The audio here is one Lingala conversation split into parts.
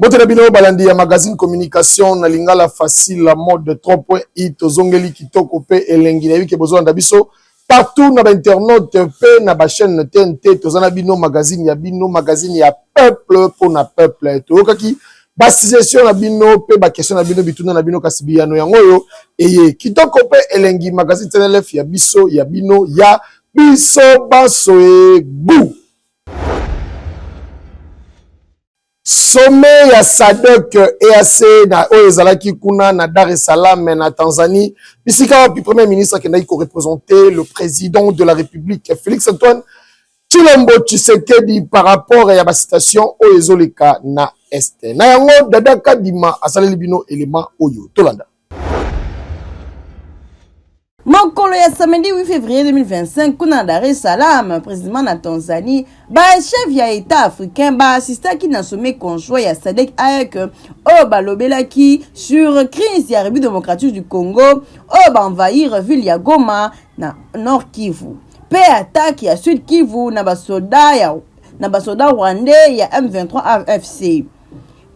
Mbote na bino balandi ya magazine communication na lingala facile la mode 3.i tozongeli kitoko pe elengi nayebi ke bozolanda biso partout na bainternaute pe na bachaîne tnt toza na bino magazine ya bino magazine ya peuple mpo na peuple toyokaki basuggestion na bino mpe bakestion na bino bituna na bino kasi biyano yango oyo eye kitoko mpe elengi magazine tnlf ya biso ya bino ya biso banso egu Sommet ya SADC EAC na oyo ezalaki kuna na Dar es Salaam na Tanzanie, bisika wapi Premier ministre akendaki ko representer le président de la République Félix Antoine Tshilombo Tshisekedi par rapport ya ba citation oyo ezoleka na Est. Na yango Dada Kadima asaleli bino element oyo. Tolanda. mokolo ya samedi 8 février 2025 kuna na dar es salaam président na tanzanie bachef ya état africain baassistaki na sommet conjoint ya sadek aec oyo balobelaki sur crise ya république démocratique du congo oyo baenvahir ville ya goma na nord kivu mpe atake ya sud kivu na basoda ya na basoda rwandais ya M23 AFC.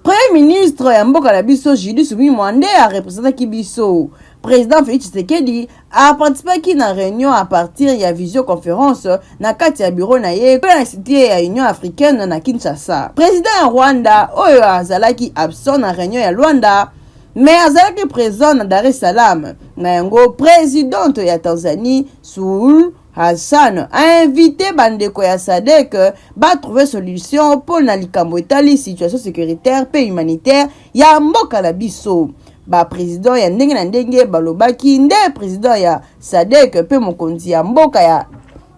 Premier ministre ya mboka na biso Julie Sumi Mwande a representaki biso. Président Félix Tshisekedi a participaki na réunion à partir ya visioconférence na kati ya bureau na ye mpe na site ya Union africaine na Kinshasa. Président ya Rwanda oyo azalaki absent na réunion ya Luanda mais azalaki présent na Dar es Salaam. Na yango présidente ya Tanzanie Suluhu Hassan a invite bandeko ya SADC ba trouver solution mpo na likambo etali situation securitaire mpe humanitaire ya mboka na biso. Ba presidents ya ndenge na ndenge balobaki nde president ya SADC mpe mokonzi ya mboka ya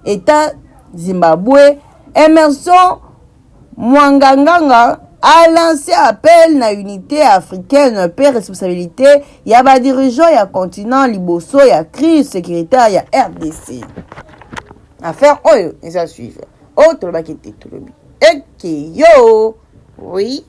Etat Zimbabwe Emmerson Mwanganganga a lance appel na unite africaine mpe responsabilite ya ba dirigeants ya continent liboso ya crise securitaire ya rdc. Affaire oyo eza suivre oyo oh, tolobaki te tolobi ekeyo oui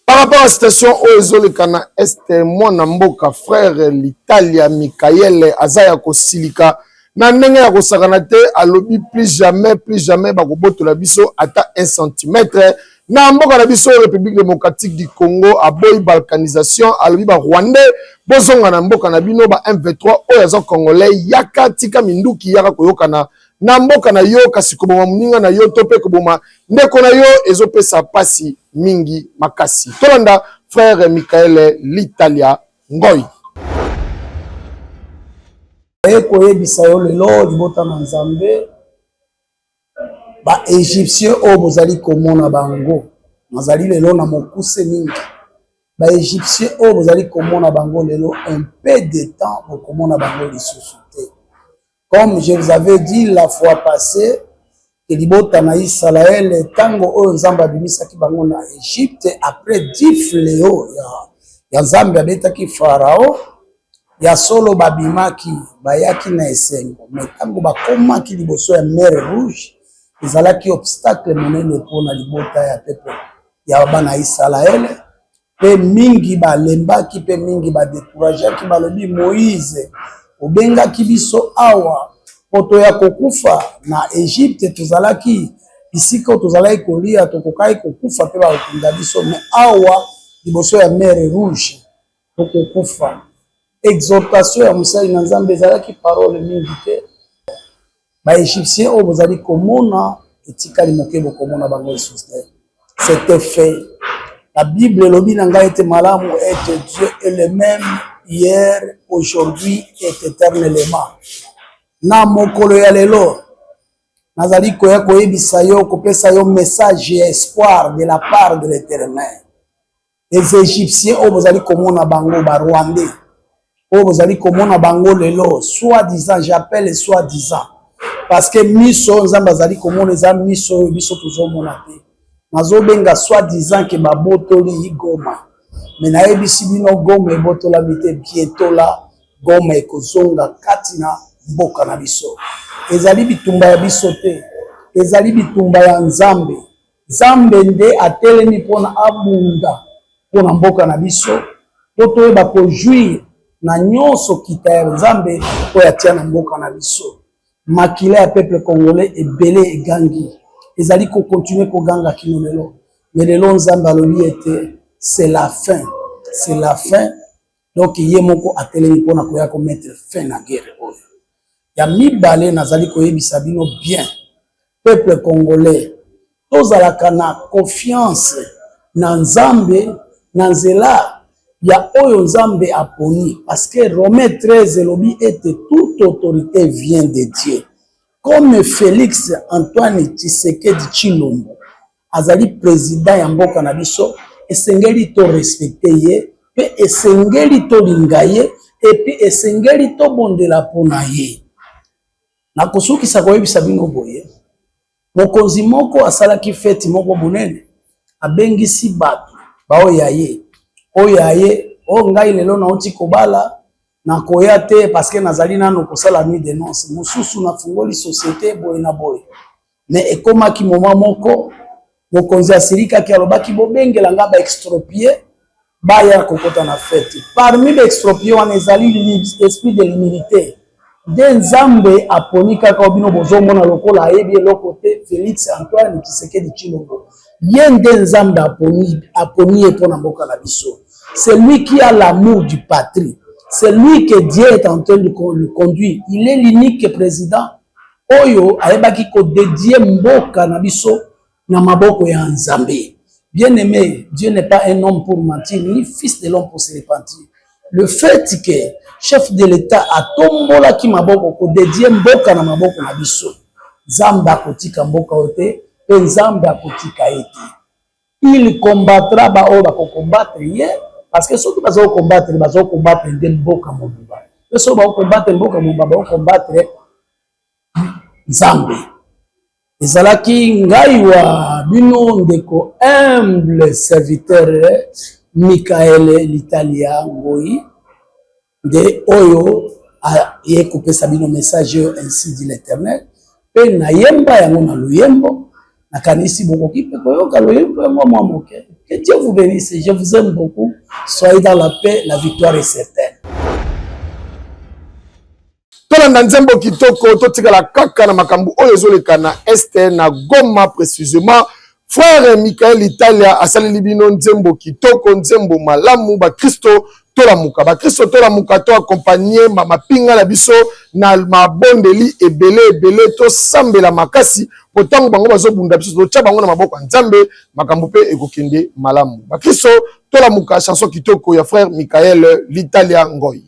Par rapport à situation oyo ezoleka na est mwana mboka frère l'Italia Michael aza ya kosilika na ndenge ya kosakana te alobi plus jamais plus jamais bakobotola biso ata un centimètre na mboka na biso République démocratique du Congo aboyi balkanisation alobi ba Rwandais bozonga na mboka na bino ba M23 oyo aza congolais yaka tika minduki yaka koyokana na mboka na yo kasi koboma moninga na yo to mpe koboma ndeko na yo ezopesa mpasi mingi makasi tolanda frere michaele litalia ngoi naye koyebisa yo lelo libota na nzambe baegyptien oyo bozali komona bango nazali lelo na mokuse mingi baegyptien oyo bozali komona bango lelo un peu de temps bokomona bango lisusu Comme je vous avais dit la fois passée que libota na Israël tango oyo Nzambe abimisaki bango na Egypte après dix fléaux ya, ya Nzambe abetaki Farao ya solo babimaki bayaki na esengo me ntango bakomaki liboso ya mer rouge ezalaki obstacle monene mpo na libota ya pepe ya bana Isalaele mpe mingi balembaki mpe mingi badekurageaki, balobi, Moize, obengaki biso awa mpo toya kokufa na Egypte? Tozalaki bisika oyo tozalaki kolia, tokokaki kokufa mpe bakokunda biso, me awa liboso ya mer Rouge tokokufa. Exhortation ya mosali na Nzambe ezalaki parole mingi te, Ba Egyptiens oyo bozali komona etikali moke bokomona bango lisusu te. C'était fait. La Bible elobi na ngai ete malamu ete Dieu est le même hier, aujourd'hui et éternellement. Na mokolo ya lelo nazali koya koyebisa yo, kopesa yo message ya espoir de la part de l'Éternel. les egyptiens oyo bozali komona bango ba rwandais oyo bozali komona bango lelo soit disant j'appelle soit disant parce que miso oyo nzambe azali komona eza miso oyo biso tozomona te nazobenga soit disant ke babotoli goma me nayebisi bino goma ebotolami te bientôt la goma ekozonga kati na mboka na biso ezali bitumba ya biso te ezali bitumba ya nzambe Nzambe nde atelemi mpona abunda mpona mboka na biso mpo toyeba kojuire na nyonso kita ya Nzambe oyo atia na mboka na biso. Makila ya peuple congolais ebele egangi, ezali kokontinue koganga kino lelo, me lelo Nzambe alobi ete c'est la fin, c'est la fin. Donc ye moko atelemi mpona koya komettre fin na guerre oyo. Ya mibale, nazali koyebisa bino bien peuple congolais tozalaka na confiance na nzambe na nzela ya oyo nzambe aponi parce que romain 13 elobi ete toute autorité vient de dieu comme félix antoine tshisekedi tshilombo azali président ya mboka na biso esengeli to respecte ye mpe esengeli tolinga ye epuis esengeli tobondela mpo na ye Nakosukisa koyebisa bino boye, mokonzi moko asalaki feti moko monene, abengisi bato baoyo ya ye oyo ya ye o oh, ngai lelo nauti kobala nakoya te paske nazali nano kosala nuit de nonce mosusu nafungoli societe boye na boye Mais ekomaki moment moko mokonzi asilikaki alobaki bobengela nga ba extropie baya kokota na fete parmi ba extropie wana ezali esprit de l'humilité nde nzambe aponi kaka o bino bozomona lokola ayebi eloko te félix antoine kisekedi cilongo ye nde nzambe aponi aponi ye mpo na mboka na biso c'est lui qui a l'amour du patrie c'est lui que dieu est en train de le conduire il est l'unique président oyo ayebaki kodedie mboka na biso na maboko ya Nzambe. Bien aimé, Dieu n'est pas un homme pour mentir, ni fils de l'homme pour se repentir. Le fait que chef de l'État atombolaki maboko kodedie mboka na maboko na biso, Nzambe akotika mboka oyo te mpe Nzambe akotika ye te. Il combattra ba oyo bako combattre ye parce que soki baza ko combattre baza ko combattre nde mboka mobimba pe soki bako combattre mboka mobimba bako combattre Nzambe. Ezalaki ngai wa bino ndeko humble serviteur Michael Litalia Ngoyi. nde oyo aye kopesa bino message oyo ainsi dit l'Eternel, mpe nayemba yango na loyembo. Nakanisi bokoki mpe koyoka loyembo yango mwa moke. Que Dieu vous bénisse, je vous aime beaucoup, soyez dans la paix, la victoire est certaine. tolanda nzembo kitoko totikala kaka na makambo oyo ezoleka na este na goma précisément frère michael italia asaleli bino nzembo kitoko nzembo malamu bakristo tolamuka bakristo tolamuka to akompagne mapinga na biso na mabondeli ebele ebele tosambela makasi mpo ntango bango bazobunda biso totya bango na maboko ya nzambe makambo mpe ekokende malamu bakristo tolamuka chanson kitoko ya frère michael litalia ngoi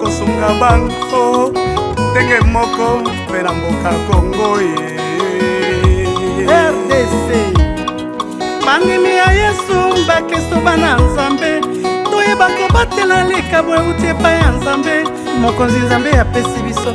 kosunga bango ndenge moko mpe na mboka kongo ye rdc bandimi ya yesu bakristo bana nzambe toyeba kobatela likabo euti epai ya nzambe mokonzi nzambe apesi biso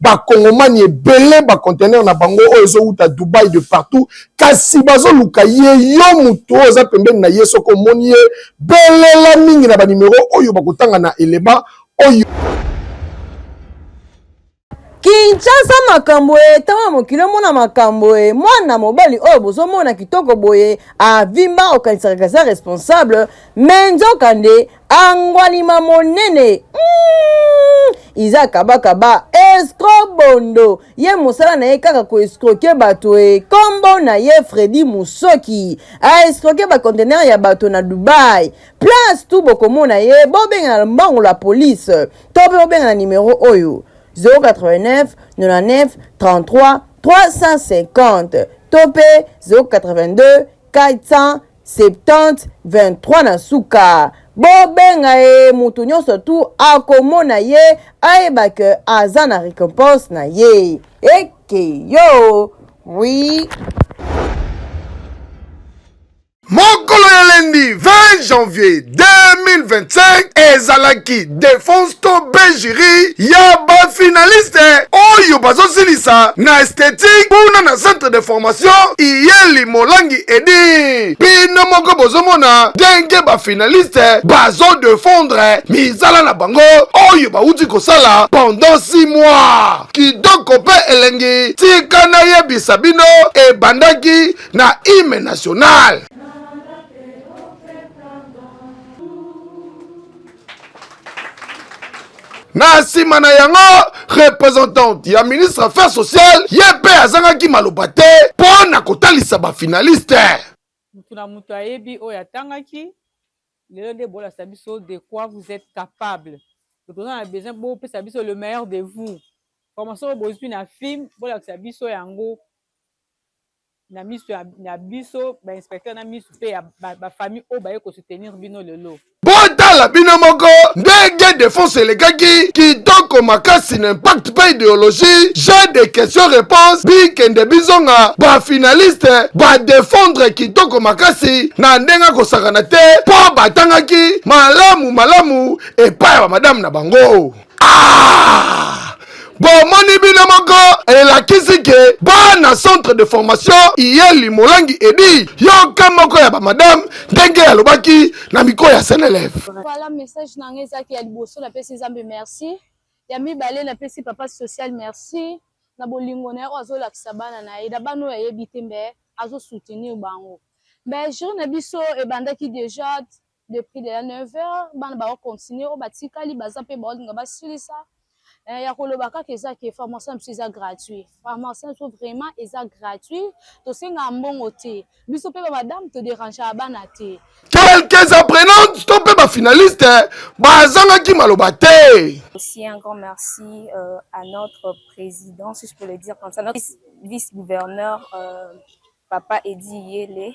bakongomani ebele bacontener na bango oyo ezowuta dubai de partout kasi bazoluka ye yo motu oyo oza pembeni na ye soki omoni ye belela mingi na banimero oyo bakotanga na eleba oyo kinshasa makambo ye ntango ya mokili omona makambo ye mwana mobali oyo bozomona kitoko boye avimba okanisaka kaza responsable me nzoka nde angwalima monene mm, iza kabakaba escro bondo ye mosala na ye kaka koescroke bato e kombo na ye fredi mosoki aescroke bacontener ya bato na dubai place tu bokomona ye bobengana mbango la police to mpe bobengana nimero oyo 089 99 33 350 to mpe 082 400 70 23 na suka bobenga ye moto nyonso tu akomona ye ayeba ke aza na récompense na ye eke yo oui mokolo ya lendi 20 janvier 2025 ezalaki defense to bejiri ya bafinaliste oyo bazosilisa na esthétique kuna na centre de formation iyeli molangi edi bino moko bozomona ndenge bafinaliste bazodefendre mizala na bango oyo bauti kosala pendant 6 mois kitoko mpe elengi tika nayebisa bino ebandaki na hime nationale na nsima na yango representante ya ministre affaire sociale ye mpe azangaki maloba te mpo na kotalisa bafinaliste moto na moto ayebi oyo atangaki lelo nde bolakisa biso de quoi vous êtes capable toza na besoin bopesa biso le meilleur de vous formation oyo bozwi na film bolakisa biso yango na miso ya, ya biso ba inspecteur na miso mpe ya bafamille ba oyo baye kosutenir bino lelo botala bino moko ndenge defense elekaki kitoko makasi na impact mpe ideologie jeu de question réponse bikende bizonga bafinaliste badefendre kitoko makasi na ndenge akosakana te mpo batangaki malamu malamu epai ya bamadame na bango Ah! bomoni bino moko elakisi ke bana centre de formation iye limolangi edi yoka moko ya bamadame ndenge alobaki na miko ya seneleve voilà message na ngai ezalaki ya liboso napesi nzambe merci ya mibale napesi papa social merci na bolingo na ye oyo azolakisa bana na ye na bana oyo ayebi te mbe azosoutenir bango mbe jour na biso ebandaki déjà depuis lela 9 heures bana bako continue oyo batikali baza mpe baolinga basilisa eh, ya koloba kaka eza ke formation na biso eza gratuit formation na biso vraiment eza gratuit tosengaka mbongo te biso mpe bamadame toderangea bana te quelques apprenantes to mpe bafinaliste eh, bazangaki maloba te aussi un grand merci euh, à notre président si je peux le dire comme ça notre vice-gouverneur euh, papa edi yele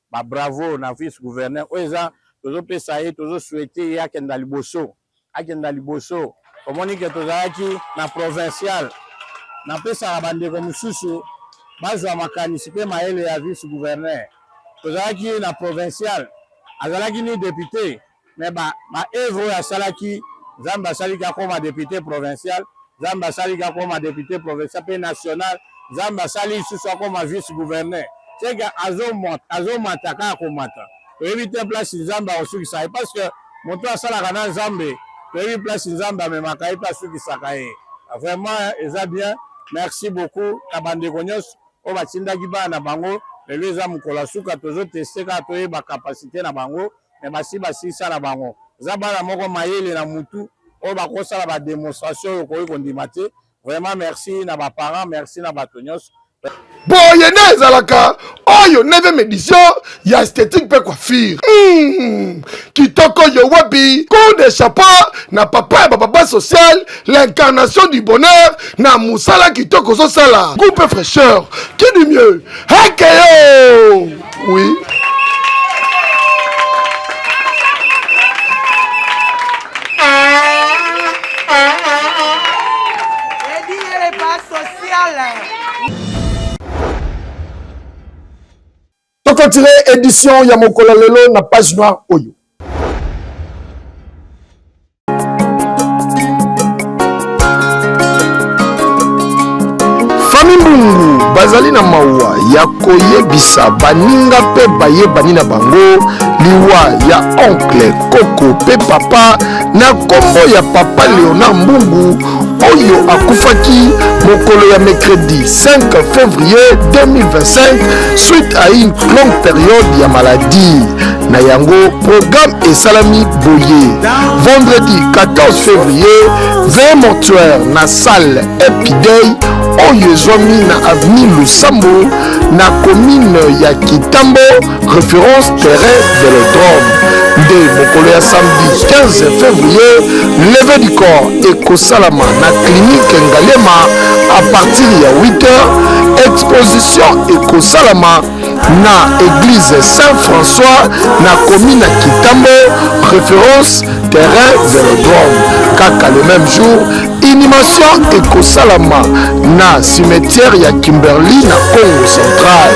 Ba bravo na vice gouverneur oyo eza tozo pesa ye tozo souhaiter ye akenda liboso akenda liboso omoni ke tozalaki na provincial napesaka bandeko mosusu bazwa makanisi mpe mayele ya vice gouverneur tozalaki na provincial azalaki ni depute mais ba ba œuvre oyo asalaki Nzambe asaliki akoma depute provincial Nzambe asaliki akoma depute provincial pe national Nzambe asali lisusu akoma vice gouverneur seke azomata kaka komata toyebi te place Nzambe akosukisa ye parce que moto asalaka na Nzambe toyebi place Nzambe amemaka ye mpe asukisaka ye vraiment eza bien merci beaucoup na bandeko nyonso oyo batindaki bana na bango lelo eza mokolo ya suka tozoteste kaka toyeba kapasite na bango mais basi basisala bango eza bana moko mayele na mutu oyo bakosala ba demonstration oyo okoki kondima te vraiment merci na baparent merci na bato nyonso boye nde ezalaka oyo 9e edition ya esthétique mpe coiffure mm, kitoko yo wapi coup de chapeau na papa ya bapapa social l'incarnation du bonheur na mosala kitoko ozosala groupe fraîcheur qui du mieux hekeyo Oui. tokotire édition ya mokolo lelo na page noire oyo bazali na mawa ya koyebisa baninga mpe bayebani na bango liwa ya onkle koko mpe papa na nkombo ya papa leonard mbungu oyo akufaki mokolo ya mercredi 5 février 2025 suite à une longue période ya maladie na yango programme esalami boye vendredi 14 février veye mortuaire na salle epidei oyo ezwami na avenue lusambo na commune ya kitambo référence terrain velodrome nde mokolo ya samedi 15 février leve du corps ekosalama na clinique ngalema à partir ya 8 heures exposition ekosalama na eglise saint françois na commune ya kitambo référence terrain velodrome kaka le même jour inhumation ekosalama na cimetière ya kimberly na congo central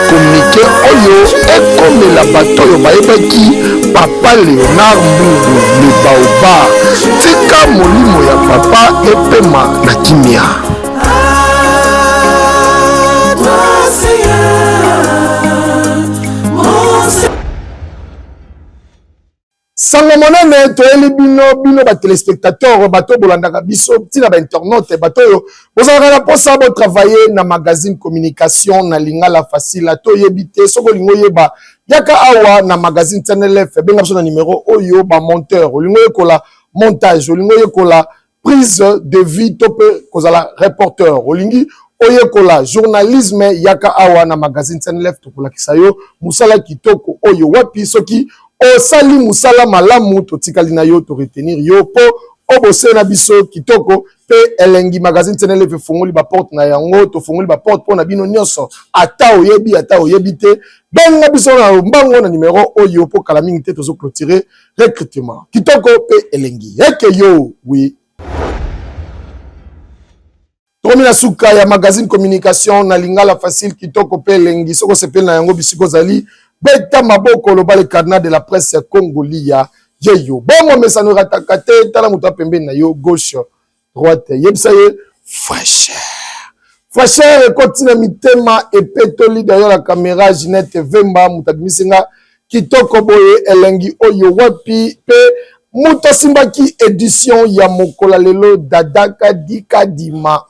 kominike oyo ekomela bato oyo bayebaki papa leonard mbubu libaoba tika molimo ya papa epema na kimia sango monene toyeli bino bino batelespectateur bato oyo bolandaka biso ntina bainternaute bato oyo bozalaka na mposa botravaille na magazine communication na lingala facile ata oyebi te soki olingi oyeba yaka awa na magazine tnlf benga biso na nimero oyo bamonteur olingi oyekola montage olingi oyekola prise de vie to mpe kozala reporter olingi oyekola journalisme yaka awa na magazine senelef tokolakisa yo mosala kitoko oyo wapi soki osali mosala malamu totikali na yo toretenir yo mpo obose na biso kitoko mpe elengi magazine senelef efungoli baporte na yango tofungoli baporte mpo na bino nyonso ata oyebi ata oyebi te benga biso na lombango na nimero oyo mpo kala mingi te tozo clotire recrutement kitoko mpe elengi eke yo wi tokomi na suka ya magazine communication na lingala facile kitoko mpe elengi soki osepeli na yango bisika ozali beta maboko loba le carnat de la presse ya congo liya ye yo bomomesano erataka te tala moto ya pembeni na yo gauche droite yebisa ye fraîcheur fraîcheur ekoti na mitema epetoli derrière la caméra ginette vemba moto abimisi nga kitoko boye elengi oyo wapi mpe moto asimbaki édition ya mokola lelo dada kadikadima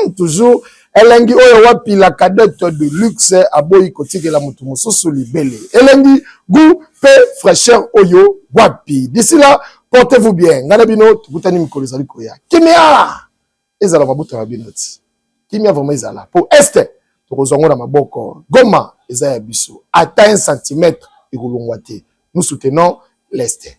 mm, toujours Elengi oyo wapi la cadette de luxe aboyi kotikela mutu mususu libele. Elengi goût pe fraîcheur oyo wapi. D'ici là, portez-vous bien. Nga na bino tokutani mikolo ezali koya. Kimia ezala mabuta na bino ti. Kimia vraiment ezala po est tokozwa ngo na maboko. Goma eza ya biso. Ata un centimètre ekolongwa te. Nous soutenons l'est.